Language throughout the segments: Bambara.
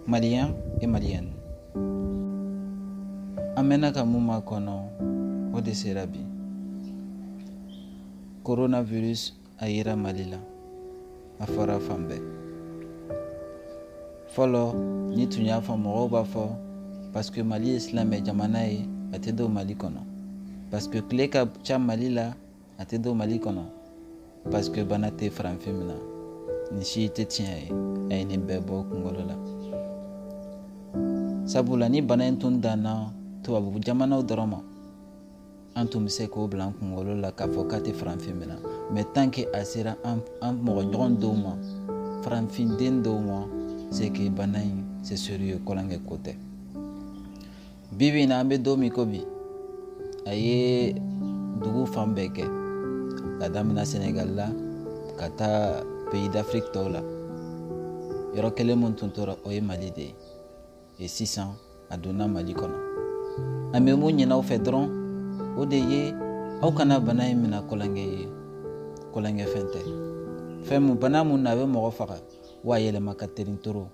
Maliens et Maliennes an mɛnna ka mun makɔnɔ o de sera bi coronavirus a yera mali la a fɔra fan bɛɛ fɔlɔ n'i tun y'a fɔ mɔgɔw b'a fɔ paske mali ye silamɛ jamana ye a tɛ don mali kɔnɔ paske tile ka ca mali la a tɛ don mali kɔnɔ parce que bana tɛ faranfin mina nin si tɛ tiɲɛ ye a ye nin bɛɛ bɔ kungolo la sabula ni bana in tun danna tubabu jamanaw dɔrɔn ma an tun bɛ se k'o bila an kungolo la k'a fɔ k'a tɛ faranfin mina mais tant que a sera an mɔgɔ ɲɔgɔn dɔw ma faranfin den dɔw ma c'est que bana in c'est sérieux tulonkɛ ko tɛ bi bi in na an bɛ don min ko bi a ye dugu fan bɛɛ kɛ ka damina senegal la ka taa pays d'afrique tɔw la yɔrɔ kelen min tun tora o ye mali de ye et sisan a donna mali kɔnɔ an bɛ mun ɲin'aw fɛ dɔrɔn o de ye aw kana bana in mina tulonkɛ ye tulonkɛ fɛn tɛ fɛn mun bana mun na a bɛ mɔgɔ faga wa a yɛlɛma ka terin trop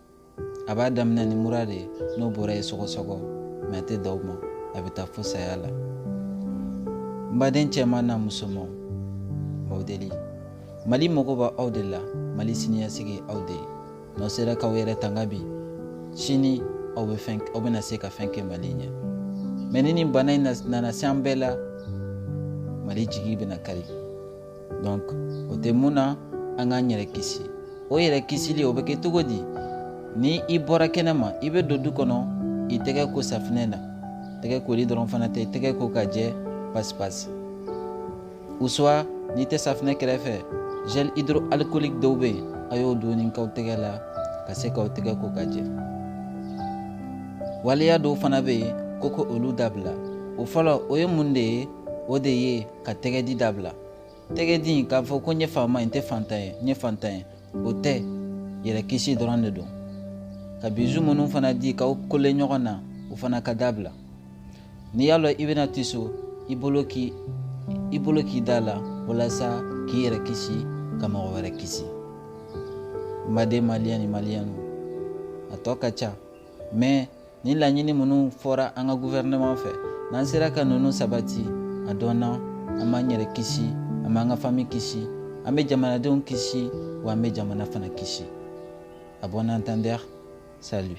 a b'a damina ni mura de ye n'o bɔra yen sɔgɔsɔgɔ mais a tɛ dan o ma a bɛ taa fo saya la n baden cɛman n'a musoman n b'aw deli mali mago b'aw de la mali siniɲɛsigi aw de ye n'aw sera k'aw yɛrɛ tanga bi sini aw bɛna se ka fɛn kɛ mali ɲɛ mais ni nin bana in nana se an bɛɛ la mali jigi bɛna kari donc o tuma na an k'an yɛrɛ kisi o yɛrɛ kisili o bɛ kɛ cogo di ni i bɔra kɛnɛma i bɛ don du kɔnɔ i tɛgɛ ko safinɛ na tɛgɛ koli dɔrɔn fana tɛ tɛgɛ ko ka jɛ pasipasi ou soit n'i tɛ safinɛ kɛrɛfɛ gel hydroalcoolique dɔw bɛ yen a y'o dɔɔnin k'aw tɛgɛ la ka se k'aw tɛgɛ ko ka jɛ waleya dɔw fana bɛ yen ko ko olu dabila o fɔlɔ o ye mun de ye o de ye ka tɛgɛdi dabila tɛgɛdi k'a fɔ ko n ye faama ye n tɛ fantan ye n ye fantan ye o tɛ yɛrɛ kisi dɔrɔn de don ka bisous minnu fana di k'aw coller ɲɔgɔn na o fana ka dabila n'i y'a lɔn i bɛna tiso i bolo k'i da la walasa k'i yɛrɛ kisi ka mɔgɔ wɛrɛ kisi n baden maliyɛn ni maliyɛnu a tɔ ka ca mais Nin laɲini minnu fɔra an ka gouvernement fɛ n'an sera ka ninnu sabati a dɔnna an b'an yɛrɛ kisi an b'an ka fami kisi an bɛ jamanadenw kisi wa an bɛ jamana fana kisi à bon entendeur salut